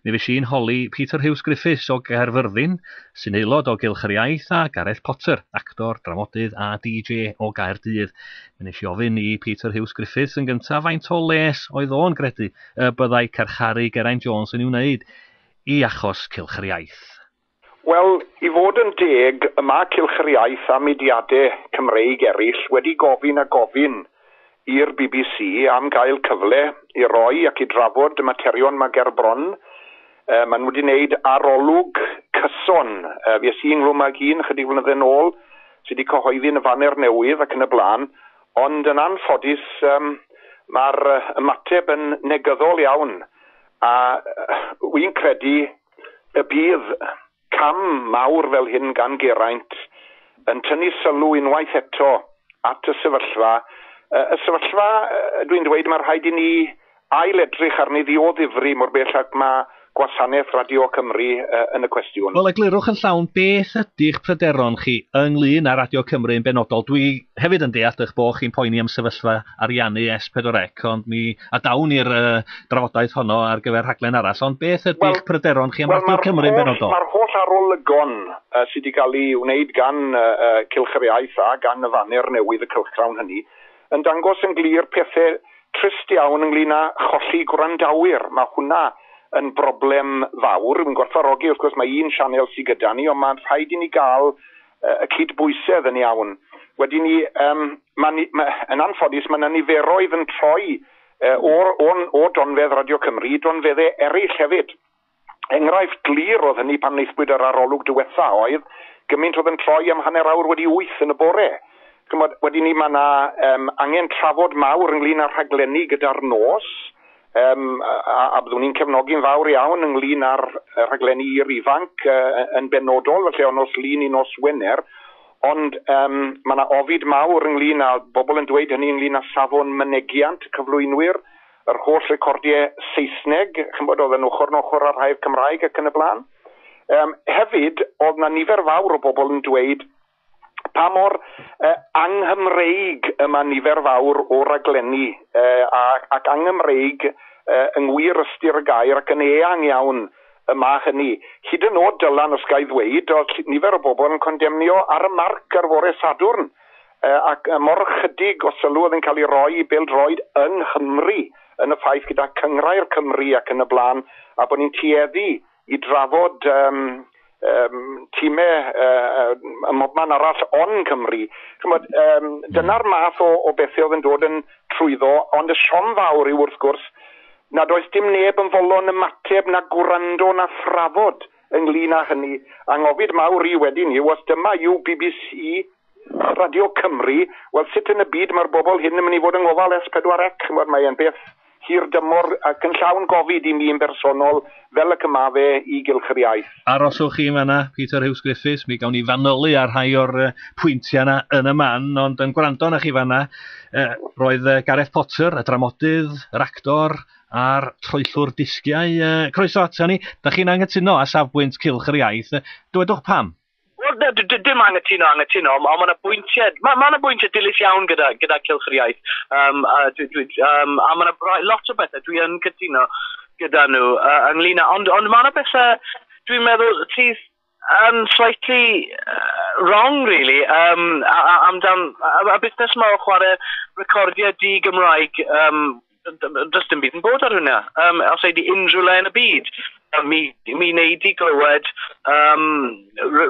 Mi fues i'n holi Peter Huws Griffiths o Gaerfyrddin, sy'n aelod o Gylch yr Iaith, a Gareth Potter, actor, dramodydd a DJ o Gaerdydd. Mi wnes i ofyn i Peter Huws Griffiths yn gyntaf faint o les oedd o'n gredu y byddai carcharu Geraint Jones yn ei wneud i achos Cylch yr Iaith. Wel, i fod yn deg, y mae Cylch yr Iaith a mudiadau Cymreig eraill wedi gofyn a gofyn i'r bbc am gael cyfle i roi ac i drafod y materion mae ger bron. Maen nhw wedi gwneud arolwg cyson. Fues i ynghlwm ag un ychydig flynydde nôl sydd wedi cyhoeddi yn y Faner Newydd ac yn y blaen, ond yn anffodus mae'r ymateb yn negyddol iawn a wi'n credu, Y bydd cam mawr fel hyn gan Geraint yn tynnu sylw unwaith eto at y sefyllfa, y sefyllfa, dwi'n dweud, mae rhaid i ni ail-edrych arni ddioddifri mor bell ag mae gwasanaeth Radio Cymru yn y cwestiwn. Wel, eglurwch yn llawn beth ydy'ch pryderon chi ynglŷn â Radio Cymru yn benodol. Dwi hefyd yn deall eich bod chi'n poeni am sefyllfa ariannu S4C ond mi a dawn ni'r uh, drafodaeth honno ar gyfer rhaglen arall, ond beth ydy'ch well, pryderon chi am well, Rhaglen Cymru yn benodol? Mae'r holl arolygon uh, sydd wedi cael ei wneud gan uh, uh, Cylch yr Iaith a gan y faner newydd y cylchgrawn hynny, yn dangos yn glir pethau trist iawn ynglyn â cholli gwrandawyr. Mae hwnna yn broblem fawr. Yn gwerthfarogi, wrth gwrs, mae un sianel sydd gyda ni, ond mae'n rhaid i ni gael y cydbwysedd yn iawn. Wedyn ni, um, ma, ni, ma, yn anffodus, mae yna niferoedd yn troi uh, o, o, o donfedd Radio Cymru i donfeddau eraill hefyd. Enghraifft glir oedd hynny pan wnaethbwyd yr arolwg diwetha oedd gymaint oedd yn troi am hanner awr wedi wyth yn y bore. Chymod, wedyn ni mae yna um, angen trafod mawr ynglyn â rhaglenni gyda'r nos, Um, a, a byddwn ni'n cefnogi'n fawr iawn ynglyn â'r rhaglenni i'r ifanc uh, yn benodol, felly o nos lun i nos Wener, ond um, mae yna ofid mawr ynglyn â bobl yn dweud hynny ynglyn â safon mynegiant cyflwynwyr, yr holl recordiau Saesneg, chi'n bod, oedd yn ochr yn ochr â'r rhai'r Cymraeg ac yn y blaen. Um, hefyd, oedd na nifer fawr o bobl yn dweud pa mor uh, anghymreig y mae nifer fawr o raglenni uh, ac, ac anghymreig uh, yng ngwir ystyr y gair ac yn eang iawn y mae hynny. Hyd yn oed Dylan, os gael ddweud, oedd nifer o bobl yn condemnio ar y marc ar fore Sadwrn, uh, ac mor chydig o sylw oedd yn cael ei roi i bêl-droed yng Nghymru yn y ffaith gyda cyngrair Cymru ac yn y blaen, a bod ni'n tueddu i drafod um, um, time um, ym mhobman arall on Cymru. Chymod, um, dyna'r hmm. math o, o bethau oedd yn dod yn trwyddo, ond y siom fawr yw wrth gwrs nad oes dim neb yn folon ymateb na gwrando na thrafod ynglyn â hynny. Anghofid mawr i wedyn yw os dyma yw BBC Radio Cymru, wel sut yn y byd mae'r bobl hyn yn mynd i fod yng ngofal Es Pedwar Ec? Ch'mod mae e'n beth hir dymor ac yn llawn gofid i mi yn bersonol, fel ac y ma' fe i Gylch yr Iaith. Aroswch chi yn fan'na, Peter Huws Griffiths, mi gawn ni fanylu ar rhai o'r pwyntiau yna yn y man, ond yn gwrando arnoch chi fan'na, roedd Gareth Potter, y dramodydd, yr actor a'r troellwr disgiau, croeso aton ni, dach chi'n anghytuno â safbwynt Cylch yr Iaith? Dywedwch pam. Wel na d- d- dim angytuno angytuno on' ma' 'na bwyntie ma' ma' 'na bwyntie dilys iawn gyda gyda Cylch yr Iaith yym a dwi dwi yym a ma' 'na rai lot o bethe dwi yn cytuno gyda nhw yy ynglŷn â ond ond ma' 'na bethe dwi'n meddwl sydd yn slightly yy wrong rili yym a- a- amdan yy y busnes 'ma o chware recordiau di-Gymraeg yym does dim byd yn bod ar hwnna. Um, os ei di unrhyw le yn y byd, mi, mi wneud i glywed um,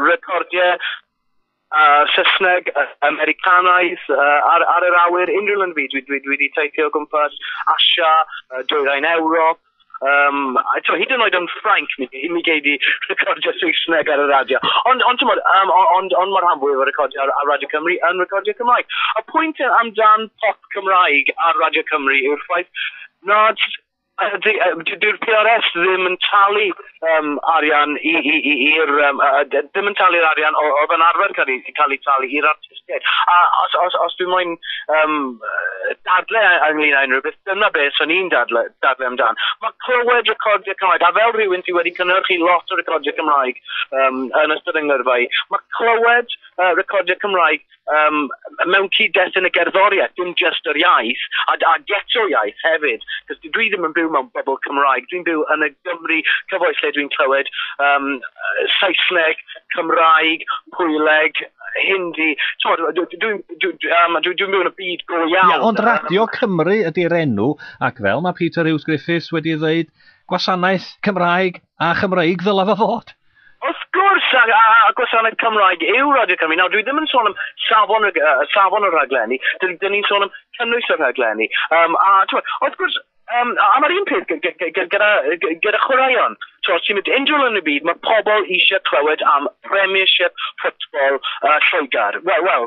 recordiau uh, Saesneg, uh, Americanaidd, uh, ar, ar yr awyr, unrhyw le yn y byd. Dwi, dwi, dwi wedi teithio o gwmpas Asia, uh, dwyrain Ewrop, Yym a t'mo' hyd yn oed yn Ffrainc mi gei mi gei di recordio Saesneg ar y radio. Ond ond t'mod yym o- ond ond ma' rhan fwyaf o recordio ar ar Radio Cymru yn recordio Cymraeg. Y pwynt yy amdan pop Cymraeg ar Radio Cymru yw'r ffaith nad yy 'di yy 'di dyw'r Pee Are Ess ddim yn talu um, arian i, i, i, i'r... Um, uh, ddim yn talu'r arian oedd yn arfer cael ei, cael ei talu i'r artistiaid. A os, os, os dwi'n moyn um, dadle ynglyn â unrhyw beth, dyna beth o'n i'n dadle, dadle amdan. Mae clywed recordiau Cymraeg, a fel rhywun sydd wedi cynhyrchu lot o recordiau Cymraeg um, yn ystod yng ngyrfa i, mae clywed uh, recordiau Cymraeg um, mewn cyd-dest yn y gerddoriaeth, dim just yr iaith, a, a geto iaith hefyd, cos dwi ddim yn byw mewn bobl Cymraeg, dwi'n byw yn y Gymru cyfoes lle dwi'n clywed um, Saesneg, Cymraeg, Pwyleg, Hindi, dwi'n byw yn y byd go iawn. Yeah, ond Radio Cymru ydy'r enw, ac fel mae Peter Hughes Griffiths wedi ddweud, gwasanaeth Cymraeg A Chymreig ddylai fo fod? Wrth gwrs, a, a, a gwasanaeth Cymraeg yw Radio Cymru. Nawr, dwi ddim yn sôn am safon, uh, safon y rhaglenni, dyn, dyn ni'n sôn am cynnwys y rhaglenni. Um, a, twa, wrth gwrs, Um, a mae'r un peth gyda, gyda chwaraeon. So, os ti'n mynd unrhyw yn y byd, mae pobl eisiau clywed am Premiership football uh, Lloegr. Wel, well,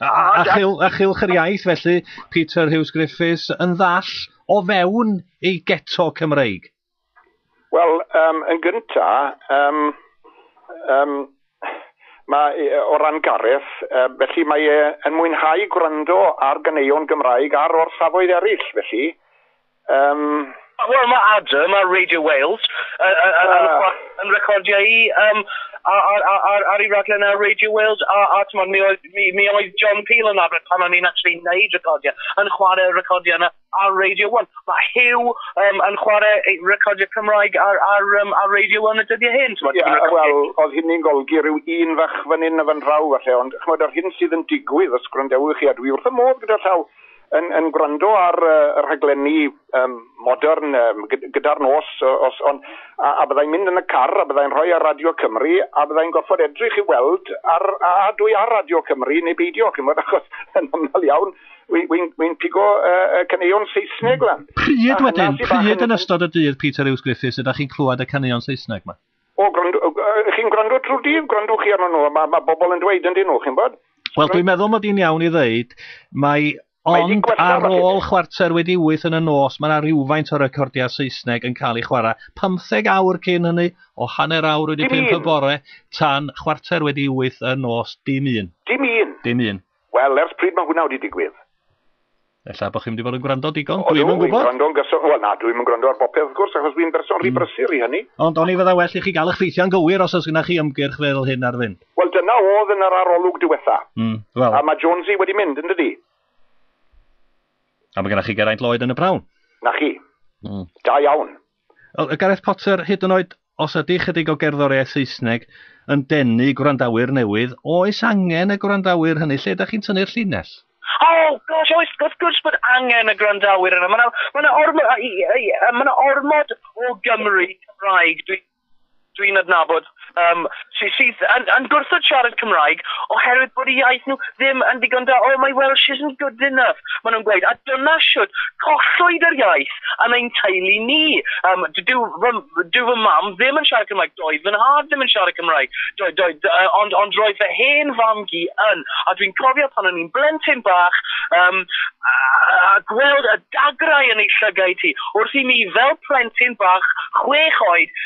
A, a, a, chil, a chilch yr iaith, felly, Peter Hughes Griffiths yn ddall o fewn ei geto Cymreig? Wel, um, yn gynta, um, um, mae, o ran Gareth, uh, felly mae e yn mwynhau gwrando ar ganeuon Gymraeg ar orsafoedd eraill, felly. Yym, wel ma' Adam ar Radio Wales yy yy yy yn yy yn recordio i yym a- a- a- ar ar 'i raglen ar Radio Wales a a t'mod mi oedd mi mi oedd John Peel yn arfer pan o'n i'n actually neud recordio yn chware recordio yna ar Radio One. Ma' Huw yym yn chware ei recordio Cymraeg ar ar yym ar Radio One y dyddie hyn t'mod? Ie yy wel odd hynny'n golgi ryw un fach fan 'yn a fan draw falle ond ch'mod yr hyn sydd yn digwydd os gwrandewch chi a dwi wrth 'ym modd gyda llaw yn yn gwrando ar y rhaglenni um, modern um, gyda'r nos os on, a, a byddai'n mynd yn y car a byddai'n rhoi ar Radio Cymru a byddai'n gorfod edrych i weld ar, a, a dwi ar Radio Cymru neu beidio chymod achos yn aml iawn wy'n wy, wy pigo uh, uh, caneuon Saesneg lan. Pryd wedyn, pryd yn ystod y dydd Peter Hughes Griffiths ydych chi'n clywed y caneuon Saesneg yma? O, gwrando, chi'n gwrando trwy dydd, gwrando chi arno nhw, mae ma bobl yn dweud yn dyn nhw, chi'n bod? Wel, dwi'n meddwl mod i'n iawn i ddeud, mae ond ar ôl chwarter wedi wyth yn y nos, mae yna rhywfaint o recordiau Saesneg yn cael ei chwarae. 15 awr cyn hynny, o hanner awr wedi pimp y bore, tan chwarter wedi wyth yn nos, dim un. Dim un? Dim un. Wel, ers pryd mae hwnna wedi digwydd? Ella bod chi'n mynd i fod yn gwrando digon, dwi ddim yn gwybod. Gwrando'n gyson, wel na, dwi ddim yn gwrando ar bopeth wrth gwrs, achos dwi'n berson rhy mm. brysur i hynny. Ond o'n i fydda well i chi gael eich ffeithiau'n gywir os oes gyda chi ymgyrch fel hyn ar fynd. Wel dyna oedd yn yr arolwg diwetha. Mm, well. A mae Jonesy wedi mynd, yn dydi? A mae gennych chi Geraint Lloyd yn y prawn. Na chi. Mm. Da iawn. Wel, Gareth Potter, hyd yn oed os ydy chydig o gerddoriaeth Saesneg yn denu gwrandawyr newydd, oes angen y gwrandawyr hynny? Lle ydych chi'n tynnu'r llinell? O, gosh, oes, wrth gwrs bod angen y gwrandawyr yna. Mae yna ma ormod, ma ormod o Gymry Cymraeg, dwi'n dwi'n adnabod um, sy, sydd yn, yn gwrthod siarad Cymraeg oherwydd bod y iaith nhw ddim yn ddigon da. Oh, my Welsh isn't good enough, maen nhw'n gweud. A dyna siwt collwyd yr iaith yn ein teulu ni. Um, dyw, fy, dyw fy mam ddim yn siarad Cymraeg, doedd fy nhad ddim yn siarad Cymraeg, do, do, do, uh, ond, ond roedd fy hen fam gi yn. A dwi'n cofio pan o'n i'n blentyn bach, um, a, a gweld y dagrau yn ei llygaid hi, wrth i mi fel plentyn bach chwech oed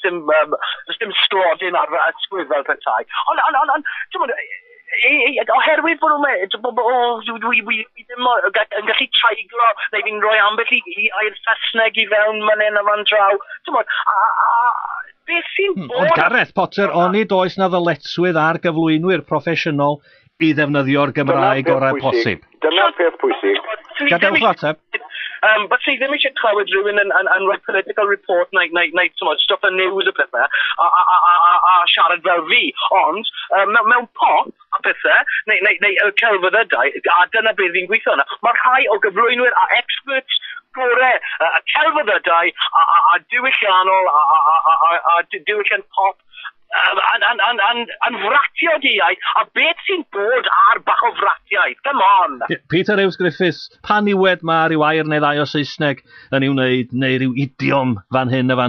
Sdim, um, sdim sglodyn ar fy ysgwydd fel petai. Ond, ond, ond, ond, ti'n mwyn, oherwydd bod nhw'n meddwl, bod nhw ddim yn gallu traiglo, neu fi'n rhoi ambell i air Saesneg i fewn man hyn a fan draw. Ti'n mwyn, a, a, beth sy'n hmm, bod... Ond Gareth Potter, oni does na ddyletswydd ar gyflwynwyr proffesiynol i ddefnyddio'r Gymraeg gorau posib. Dyna'r peth pwysig. Gadewch ateb. Um, but sydd ddim eisiau clywed rhywun yn, yn, yn rhoi political report neu, neu, neu tymod, stop y news y pethau a, a, a, a, a, a siarad fel fi. Ond um, mewn, mewn pop a pethau, neu, neu, neu y celfyddydau, a dyna beth fi'n gweithio yna. Mae rhai o gyflwynwyr a experts gore y celfyddydau a, a, a diwylliannol a, a, a, a, a, a diwylliant pop yn, yn, yn, yn, yn fratio di ai, a beth sy'n bod ar bach o fratiaid, come on! Peter Huws Griffiths, pan niwed ma ryw air neu ddau o Saesneg yn ei wneud, neu ryw idiom fan hyn a fan